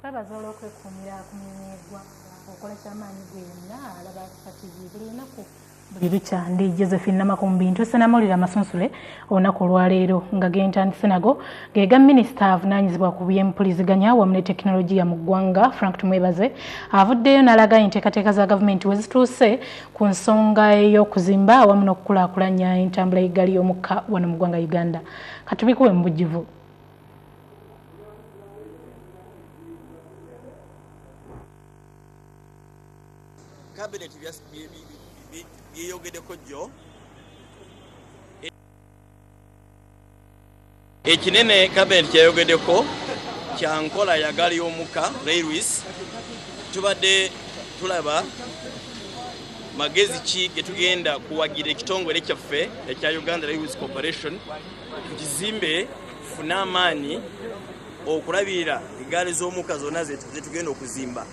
kwebaza olwokwekuumira ku mirimu egwa okolesa amaanyi gwe yenna alaba kika kibi buli lunaku buli lukya ndi josephine namakumbi ntuuse namawulire amasunsule olunaku olwaleero nga gentandise nago ge ga minisita avunaanyizibwa ku byempuliziganya wamu ne tekinologiya mu ggwanga frank tumwebaze avuddeyo n'alaga enteekateeka za gavumenti we zituuse Ku nsonga ey'okuzimba awamu n'okukulaakulanya entambula y'eggaali y'omukka wano mu ggwanga Uganda, katubikuwe mu bujjuvu. Kabineeti byeyogedeko jjo. ekinene kabineti kyeyogedeko kya nkola ya gaali y'omukka railways tubadde tulaba magezi ki getugenda kuwagira ekitongole kyaffe ekya uganda railways corporation kukizimbe fune amaanyi okulabirira egaali z'omukka zonna zetugenda okuzimba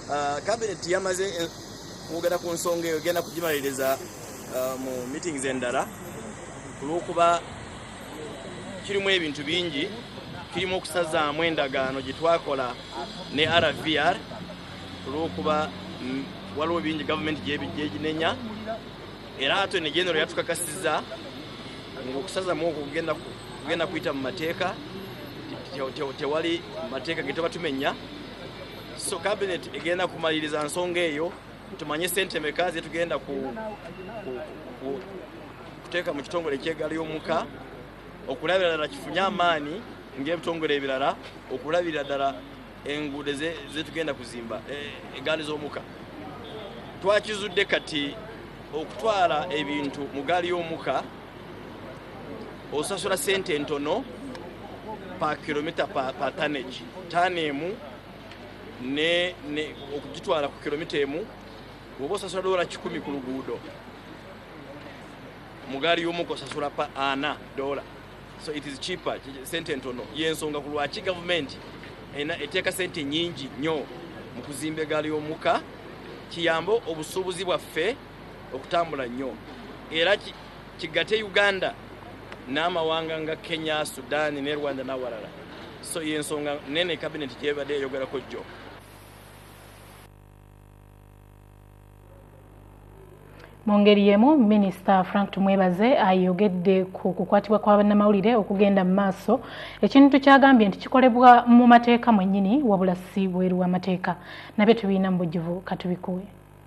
Uh, cabinet yamaze eh, okwogera ku nsonga eyo egenda kugimaliriza uh, mu meetings endala kulwokuba kirimu ebintu bingi kirimu okusazaamu endagaano gyetwakola ne rvr kulwokuba mm, waliwo bingi gavumenti gyeginenya era ate negenero yatukakasiza ngaokusazamu okwo kugenda kuyita mu mateeka tewali mateeka getuba tumenya so kabinet egenda kumaliriza nsonga eyo tumanye sente meka zetugenda kuteeka mu kitongole ekyegaali y'omuka okulabirira ddala kifunye amaanyi ng'ebitongole ebirala okulabirira ddala enguudo zetugenda kuzimba e, egaali z'omuka twakizudde kati okutwala ebintu mu gaali y'omuka osasula sente entono pa kilomita pa, pa tanage tano emu ne, ne okugitwala ku kilomita emu woba osasula dola kikumi ku luguudo mugaali yomuka osasula pa ana dola so it is cheaper sente entono yensonga ku lwaki gavumenti ena eteeka sente nyingi nyo mu kuzimba egaali yomuka kiyambe obusuubuzi bwaffe okutambula nnyo era kigate uganda n'amawanga nga kenya sudan ne rwanda n'awalala so yensonga nene kabineti gyebadde eyogerako jjo mu ngeri y'emu minisita frank tumwebaze ayogedde ku kukwatibwa kwa bannamawulire okugenda mu maaso ekintu kyagambye nti kikolebwa mu mateeka mwennyini wabula si bweru w'amateeka nabyo tubiina mu bujjuvu katubikuwe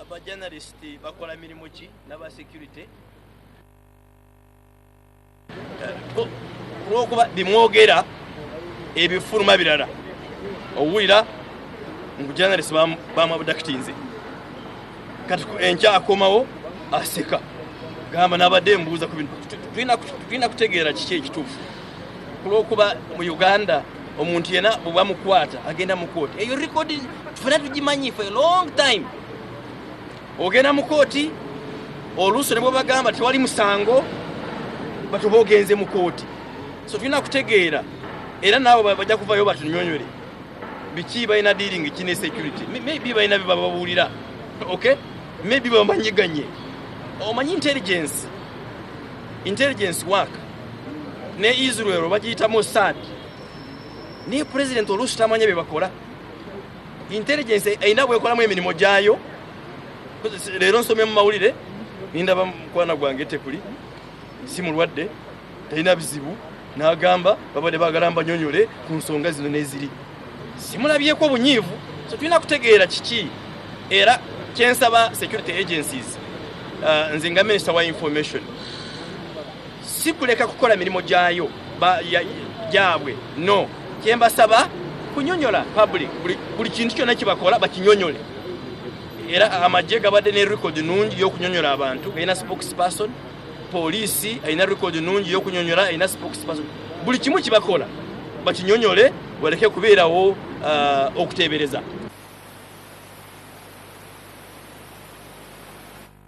abajanalisiti bakola mirimu ki nabasecurity olwokuba bimwogera ebifuluma birala owulira mubujanalisiti bamwabudakitinze kati enkya akomawo aseka gamba nabadde mbuuza ku bintu tulina kutegeera kiki ekituufu kulwokuba mu uganda omuntu yena bwebamukwata agenda mukooti eyo rekodi tufena tugimanyi for a long time ogenda mukooti oluuso nebwebagamba tewali musango batuba ogenze mukooti so tulina kutegeera era naawe bajja kuvayo batunyonyole biki balina dealing ki ne security maybe balina byebababuulira okay maybe bamanyiganye omanyi intelligence intelligence work ne israel bagiyita mossad naye pulezidenti oluusi tamanya bye bakola intelligence erina bwekolamu emirimu gyayo leero nsomye mu mawulire nindaba mukwana gwange tekuli si mulwadde talina bizibu n'agamba babadde bagala mbanyonyole ku nsonga zino n'eziri simulabyeko obunyiivu so tulina kutegeera kiki era kyensaba security agencies uh, nze nga minisita wa information si kuleka kukola mirimu gyayo gyabwe no kyembasaba kunyonyola public buli kintu kyonna kibakola bakinyonyole era amagye gabadde ne record nungi yokunyonyola abantu galina spokesperson poliisi alina record nungi yokunyonyola alina spokesperson buli kimu kibakola bakinyonyole waleke kubeerawo uh, okuteebereza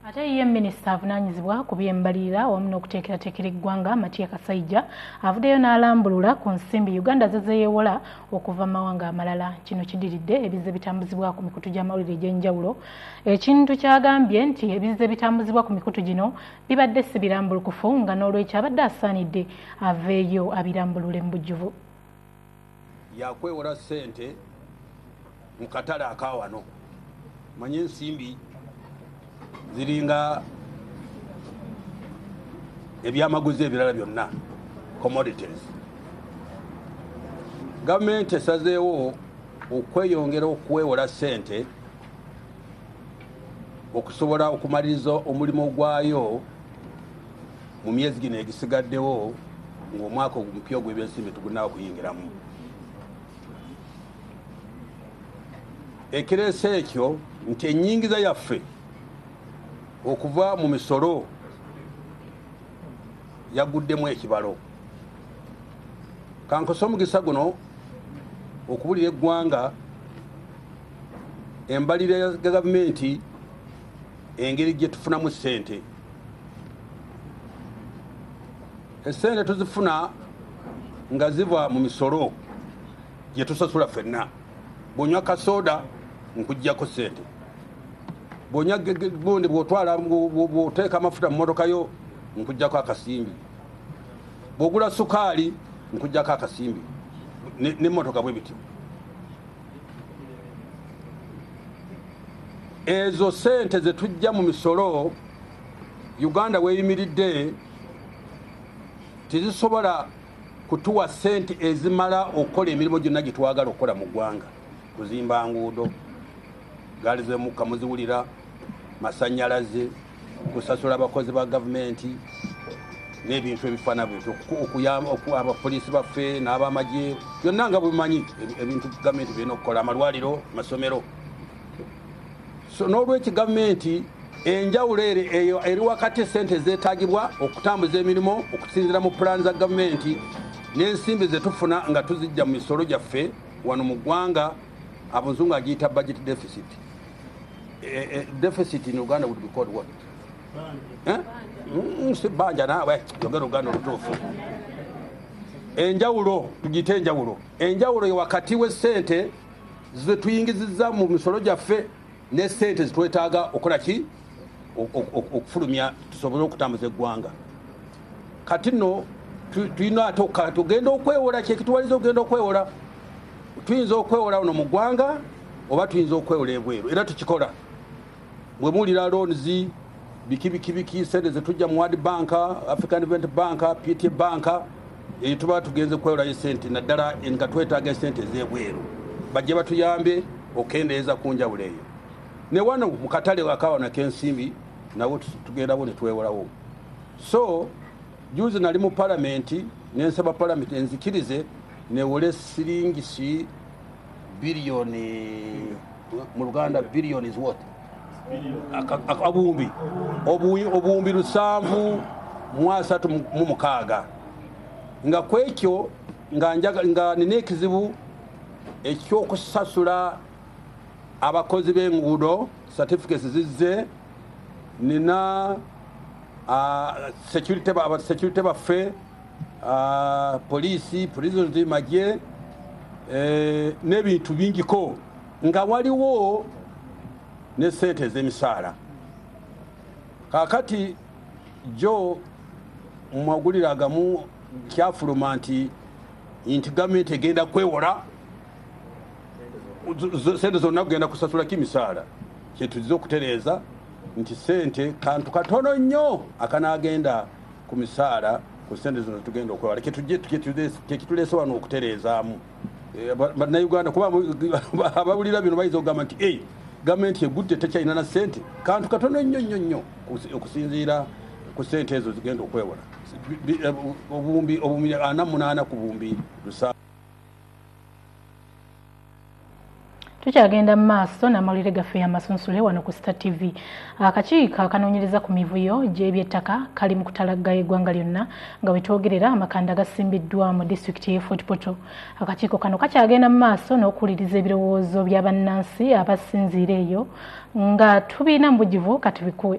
Ate ye minisita avunaanyizibwa ku by'embalirira awamu n'okuteekerateekera eggwanga Matia Kasaija avuddeyo n'alambulula ku nsimbi Uganda ze zeeyewola okuva mu mawanga amalala. Kino kidiridde ebizze bitambuzibwa ku mikutu gy'amawulire egy'enjawulo ekintu ky'agambye nti ebizze bitambuzibwa ku mikutu gino bibadde si birambulukufu nga n'olwekyo abadde asaanidde aveeyo abirambulule mu bujjuvu. yakwewola sente mu katale akawano manye ensimbi ziringa ebyamaguzi ebirala byonna commodities gavumenti esazeewo okweyongera okwewola sente okusobola okumaliriza omulimu gwayo mu myezi gino egisigaddewo ng'omwaka omupya ogw'ebyensimbi tugunawo okuyingiramu ekireese ekyo nti enyingiza yaffe okuva mu misolo yaguddemu ekibalo kankosa omugisa guno okubulira eggwanga embalira ya gavumenti engeri gye tufunamu ssente essente tuzifuna nga ziva mu misolo gye tusasula ffenna bwonywa kasooda nkuggyako ssente bwonya gundi bwotwala bwoteeka amafuta mu motoka yo nkujjako akasimbi bwogula sukaali nkujjako akasimbi ne motoka bwe bityo ezo sente zetujja mu misolo uganda weyimiridde tezisobola kutuwa sente ezimala okukola emirimu gyonna gyetwagala okukola mu ggwanga kuzimba nguudo gaali zemukka muziwulira masanyalaze kusasula abakozi ba gavumenti n'ebintu ebifaana bwetyo okuyamba abapoliisi baffe n'abamagye byonna nga bwemanyi ebintu gavumenti birina okukola amalwaliro masomero so n'olwekyo gavumenti enjawulo ere eyo eri wakati esente ezeetagibwa okutambuza emirimu okusinzira mu pulaani za gavumenti n'ensimbi zetufuna nga tuzijja mu misolo gyaffe wano mu ggwanga abuzungu agiyita budget deficit eh, deficit in Uganda would be called what? Eh? Mm, si banja nawe yogera Uganda olutuufu enjawulo tugiyite enjawulo enjawulo ye wakati w'essente zetuyingiziza mu misolo gyaffe ne sente zitwetaaga okola ki okufulumya tusobole okutambuza eggwanga kati no tulina ate okukala tugenda okwewola kyekituwaliza okugenda okwewola tuyinza okwewola uno mu ggwanga oba tuyinza okwewola ebweru era tukikola bwemuwulira loans biki biki biki sente zetujja mu wad bank african event bank pt bank eyo tuba tugenze kwewolayo esente naddala nga twetaaga esente ezebweru bajje batuyambe okendeeza ku njawulo eyo ne wano mu katale akawana kensimbi nawo tugendawo ne twewolawo so juzi nali mu palamenti nensaba palamenti enzikirize newole siringi si biliyoni mu luganda biliyoni zwot abuwumbi obuwumbi lusanvu mu asatu mu mukaaga nga kwekyo nga nina ekizibu ekyokusasula abakozi b'enguudo certificates zizze nina ah, security aba security baffe ah, police prisons magye eh, n'ebintu bingiko nga waliwo ne sente ez'emisaala kakati jo mu magulire agamu kyafuluma nti nti gavumenti egenda kwewola sente zonna kugenda kusasulako emisaala Kyetuzze okutereeza nti ssente kantu katono nnyo akanaagenda ku misaala ku ssente zino tugenda okwewala kyekituleese wano okutereezaamu eh, bannayuganda kuba abawulira bino bayinza okugamba nti e gavumenti egudde tekyalina na ssente kantu katono nnyo nnyo nnyo okusinziira ku ssente ezo zigenda okwewola eh, obuwumbi obumya ana munaana ku buwumbi lusa tukyagenda mu maaso n'amawulire gaffe y'amasunsule wano ku star tv akakiiko akanoonyereza ku mivuyo gy'ebyettaka kali mu kutalagga eggwanga lyonna nga wetwogerera amakanda gasimbiddwa mu disitulikiti y'e fort portal akakiiko kano kakyagenda mu maaso n'okuwuliriza ebirowoozo bya bannansi abasinziira eyo nga tubiina mu bugivu katubikuwe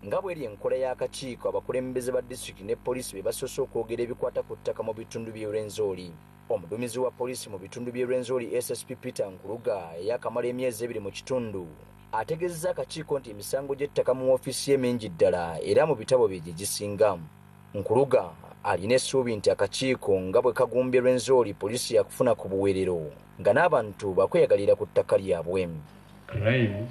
Nga bweri enkola y'akakiiko, abakulembeze ba disitulikiti ne poliisi be basoose okwogera ebikwata ku ttaka mu bitundu by'e Rwenzori. Omuduumizi wa poliisi mu bitundu by'e Rwenzori SSP Peter Nkuruga eyaakamala emyezi ebiri mu kitundu, ategeezezza akakiiko nti emisango gy'ettaka mu woofiisi ye mingi ddala era mu bitabo bye gye gisinga. Nkuruga alina essuubi nti akakiiko nga bwe kagumbye Rwenzori poliisi yaakufuna ku buweerero nga n'abantu baakweyagalira ku ttaka lyabwe. Crimes.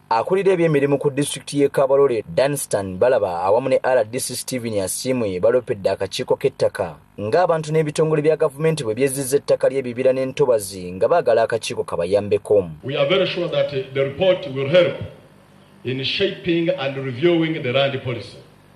Akulira ebyemirimu ku disitulikiti y'e Kabarole, Dunstan Balaba awamu ne rdc Stephen Asiimwe baloopedde akakiiko k'ettaka ng'abantu n'ebitongole bya gavumenti bwe byezzizza ettaka ly'ebibira n'entobazi nga baagala akakiiko kabayambeko. We are very sure that the report will help in shaping and reviewing the land policy.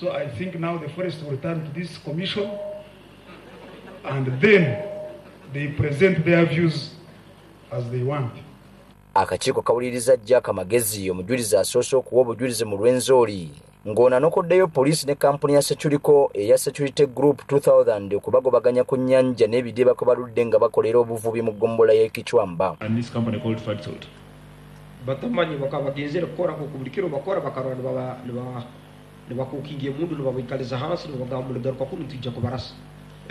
So I think now the forest will turn to this commission and then they present their views as they want. akakiiko kawuliriza jack magezi omujulizi asoose okuwa obujulizi mu lw'enzooli ng'ono anokoddeyo poliisi ne kampuni ya securiko eya security group 2000 okubagobaganya ku nnyanja n'ebidiba kwe baludde nga bakolera obuvubi mu ggombola y'ekicwamba batamanyi bakabagezeera kukorako ku buli kiro bakora bakarwa nibakukinga emundu nibabaikaliza hansi nibabagamba muli garuka kunu nitwija kubarasa.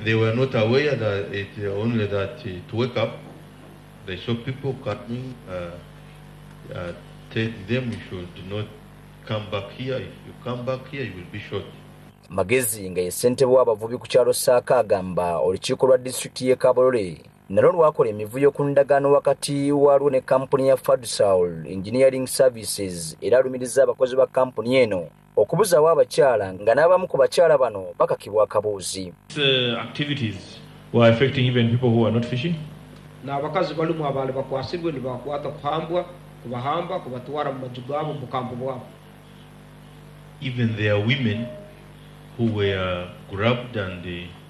They were not aware that it only that to wake up they saw people coming uh, uh, tell them you should not come back here if you come back here you will be shot. Magezi nga ye ssentebe w'abavubi ku kyalo Saaka agamba olukiiko lwa disitulikiti y'e Kabolole nalwo lwakola emivuyo ku ndagaano wakati waalwo ne kampuni ya fadsaul engineering services era alumiriza abakozi ba kampuni eno okubuzaawo abakyala nga n'abamu ku bakyala bano bakakibwa akabuuzi n'abakazi balumu abaali bakwasibwe nibakwata kuhambwa kubahamba kubatwara mu maju gaabo mu bukampu bwabo even their women who were grabbed and uh,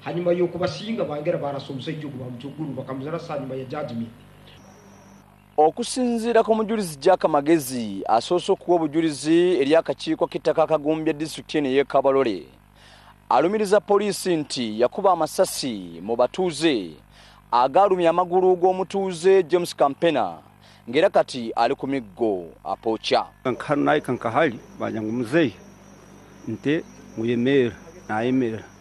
Hanyuma y'okubasinga bangera barasa omusajja ogu bamutugulu bakamuzarasa hanyuma ya judgment. Okusinziira ku mujulizi Jack Magezi asoose okuwa obujulizi eri akakiiko k'ettaka akagumbye disitulikiti eno ey'e Kabalole alumiriza poliisi nti yakuba amasasi mu batuuze agaalumya amagulu g'omutuuze James Kampena ng'era kati ali ku miggo apooca kankanayi kankahali banja ngu muzeeyi nte muyemeera nayemeera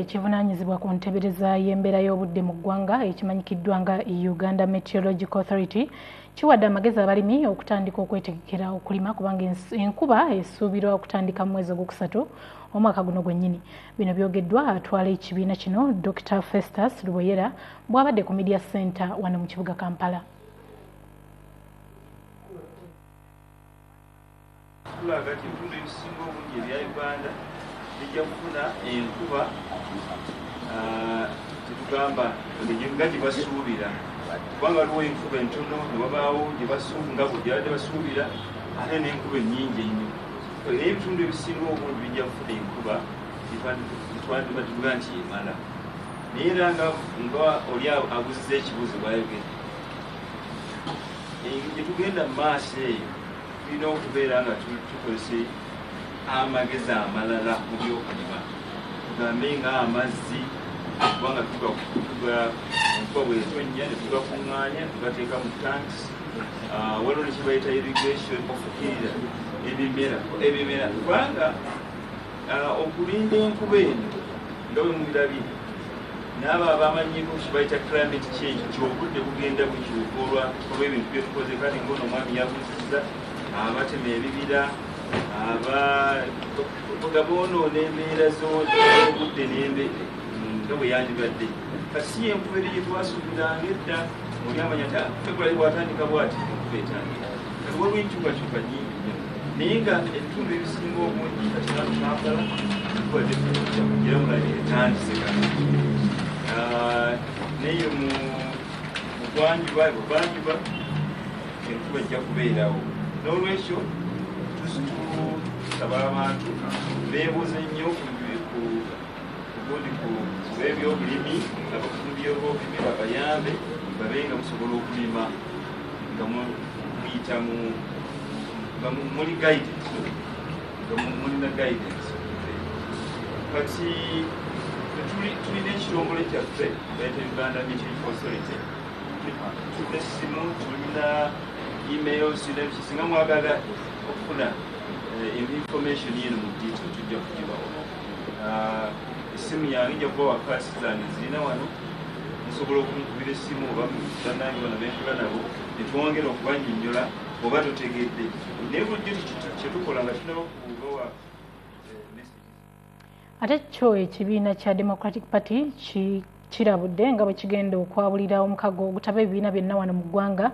ekivunanyizibwa ku ntebereza y'embeera y'obudde mu ggwanga ekimanyikiddwa nga uganda meteorological authority kiwadde amagezi abalimi okutandika okwetegekera okulima kubanga enkuba esuubirwa okutandika mu mwezi ogwokusatu omwaka guno gwennyini bino byogeddwa atwala ekibiina kino dr festus luboyera bwabadde ku media center wano mu kibuga kampala Tulaga nti ebitundu ebisinga obungi ebya Uganda bijja kufuna enkuba tetugamba nga gye basuubira kubanga waliwo enkuba entono ne wabaawo gye basuubi nga bwe gyabadde basuubira ate n'enkuba ennyingi ennyo naye ebitundu ebisinga obungi bijja kufuna enkuba twandiba tuga nti emala naye era nga nga oli abuziza ekibuuzo bwayogera gyetugenda mu maaso eyo Tulina okubeera nga tukozesa amagezi amalala mu byokulima, tugambe nga amazzi kubanga tuga enkuba bwetonnya ne tugakuŋŋaanya tugateeka mu tanks. Ah, waliwo ne kye bayita irrigation okufukirira ebimera ebimera kubanga okulinda enkuba eno nga bwe mubirabye naabo abamanyiiko kibayita climate change nti obudde bugenda bukyuka olwa olw'ebintu byetukoze kale ngaono omwami yabuziza abatema ebibira aba nga boonoona embeera z'obudde nembe nga bwe yandibadde kati si yenkuba eri gyetwasuubiranga edda oli amanya ta february bwatandika bwati enkuba etandika Kati waliwo enkyukakyuka nyingi nnyo naye nga ebitundu ebisinga obungi kakyalo kampala kubadde era mulaba etandise naye mu bwanjuba ebuvanjuba enkuba ejja kubeerawo n'olwekyo tusaba abantu beebuuze nnyo kundi kubebyobulimi abakulu byobulimi babayambe babe nga musobola okulima nga muyita mu nga muli guidance nga mulina guidance kati tulina ekirongole kyaffe baita uganda military consolity tulina essimu tulina email sinabiki singa mwagala okufuna eh, information yino mu detail tujja kugibawo essimu yange nja kuba wakaasi zange zirina wano nsobola okumukubira essimu oba banange bano benkula nabo netwongera okubanyonyola oba totegedde naye bulijjo kyetukola nga tunaba kubawa eh, ate kyo ekibiina kya democratic party ki kirabudde nga bwe kigenda okwabulira omukago ogutaba ebibiina byonna wano mu ggwanga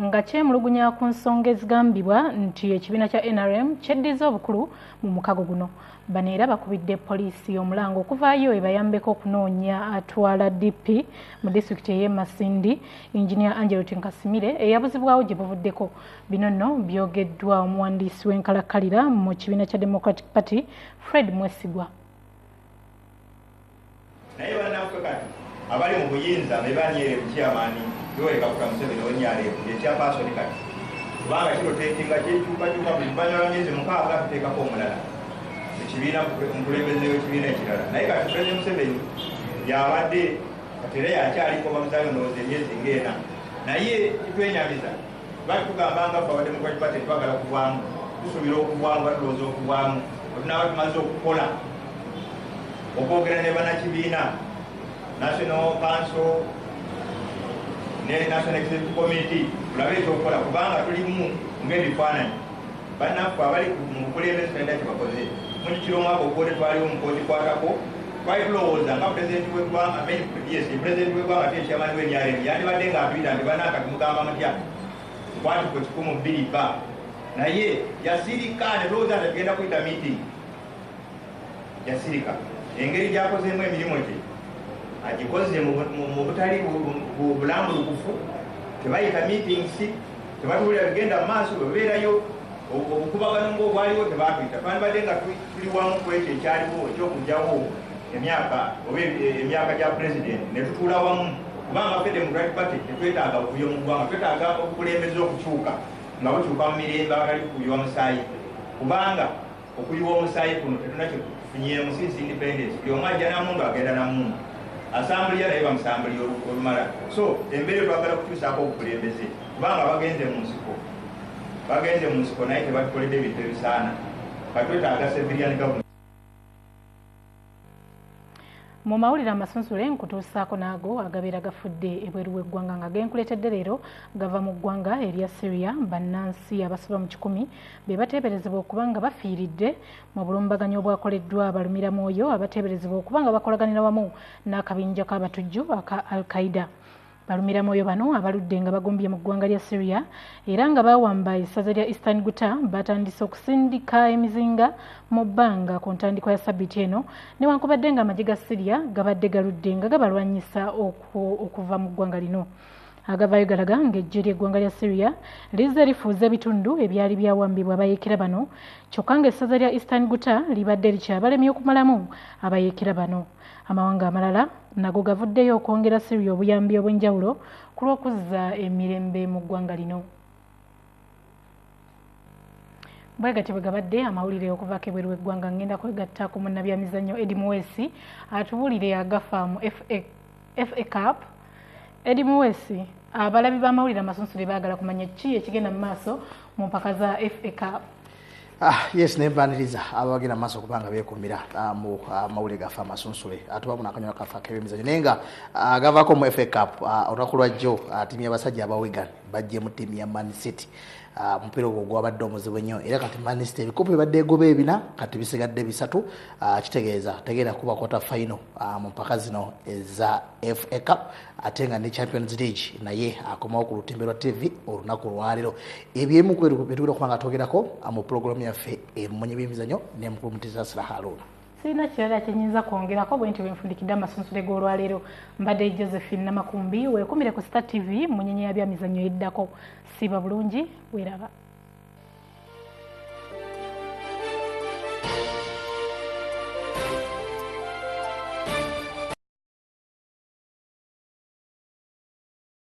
nga kyemulugunya ku nsonga ezigambibwa nti ekibiina kya nrm kyeddiza obukulu mu mukago guno bano era bakubidde poliisi omulango okuvaayo ebayambeko okunoonya atwala dp mu disitulikiti ey'e masindi enginia angelot nkasimire eyabuzibwawo gye buvuddeko bino nno byogeddwa omuwandiisi w'enkalakkalira mu kibiina kya democratic party fred mwesigwa naye banaffe kati abali mu buyinza bebanyere bukyamani yoweri kaguta museveni onyalevu ngekyapasoni kati kubanga kirotetinga kyekyukakyuka buli luvanyuma lwa myezi mukaaga tuteekako omulala ekibiina mukulembeze wekibiina ekirala naye kati president museveni yabadde kati era yakyaliko bamuzayo ndowooza emyezi ngaena naye kitwenyamiza Lwaki tugamba nga ffe abademokrati party twagala kuvaamu tusubira okuvaamu batulowooza okuvaamu otunaaba tumaze okukola okwogera ne banakibiina national council ne national executive committee tulabe ekyokukola kubanga tulimu ngaebifaananyi Banaffe abali mu bukulembeze tulina kyebakoze mujukira omwaka oguwede twaliwo mukozikwatako twali tulowooza nga pulezidenti wegwanga yes pulezidenti wegwanga ate ekyamani wenyaremu yandibadde nga atuyita nti banaka tumugamba mutya kwati ku kikumu bbiri ba naye yasirika ne tulowooza nti tugenda kuyita meeting yasirika engeri gyakozeemu emirimu gye agikoze mu butali bulambulukufu tebayita meetings tebatubulira bigenda mu maaso bwebeerayo obukubagano ngaobwaliwo tebatuyita twandibadde nga tuli wamu ku ekyo ekyaliwo ekyokugyawo emyaka oba e, e, emyaka gya pulezidenti netutuula wamu kuba amafe democratic party tetwetaaga buvuyo mu ggwanga twetaaga obukulembeza okukyuka nga bukyuka mu mirembe agali kukubiwa musaayi kubanga Okuyiwa omusaayi kuno tetulina kye tufunyeemu, since independence buli omu ajja na mundu agenda na mundu asambulira naye bamusambulira olumala. So embeera twagala kukyusaako obukulembeze kubanga bagenze mu nsiko bagenze mu nsiko naye tebatukoledde ebintu ebisaana katwetaaga civilian government. mu mawulire amasunsule nkutuusaako naago agabeera gafudde ebweru w'eggwanga nga genkuleetedde leero gava mu ggwanga erya syria bannansi abasoba mu kikumi be bateeberezebwa okuba nga bafiiridde mu bulumbaganyi obwakoleddwa abalumira mwoyo abateeberezebwa okuba nga bakolaganira wamu n'akabinja k'abatujju aka al qaida Balumiramwoyo bano abaludde nga bagumbye mu ggwanga lya Syria era nga baawamba essaza lya Eastern Guta batandise okusindika emizinga mu bbanga ku ntandikwa ya sabiti eno newankubadde nga amagye ga Syria gabadde galudde nga gabalwanyisa okuva mu ggwanga lino. agavaayo galaga ng'eggye ly'eggwanga lya syria lizze lifuuza ebitundu ebyali byawambibwa abayeekera bano kyokka ng'essaza lya eastern guta libadde likyabalemye okumalamu abayeekera bano Amawanga amalala nago gavuddeyo okwongera Syria obuyambi obw'enjawulo ku lw'okuzza emirembe mu ggwanga lino. Bwe gatyo bwe gabadde amawulire okuvaako ebweru w'eggwanga ng'enda kwegatta ku munnabyamizannyo Eddie Muweesi atubuulire agafa mu FA FA Cup Eddie Muwesi abalabi b'amawulire amasunsule baagala kumanya ki ekigenda mu maaso mu mpaka za FA Cup Ah, yes naye baniriza abagenda mu maaso kubanga beekuumira ah, mu ah, mawulire gaffe amasunsule atuba muno akanyuma kaffe ak'ebyemizanyo naye nga ah, gavaako mu fa cup ah, olunaku lwa jjo ah, ttiimu y'abasajja abawigan bajje mu ttiimu ya man city Ah, omupiira ogwo gwabadde omuzibu ennyo era kati manisita ebikopo ebadde egoba ebina kati bisigadde bisatu ah, kitegeeza tegeera kuba kwata fayino ah, mu mpaka zino eza fa cup ate nga ne champions league naye akomawo ku lutimbe lwa tv olunaku olwaleero ebyemu kwebitugenda okuba nga twogerako mu pulogulamu yaffe emunye byemizanyo ne mukulu mutizasira haruuna sirina kirala kyenyinza kwongerako bwentyo bwenfundikidde amasunsule g'olwaleero mbadde josephine namakumbi wekumire ku star tv munyenya ya byamizannyo eddako siiba bulungi weraba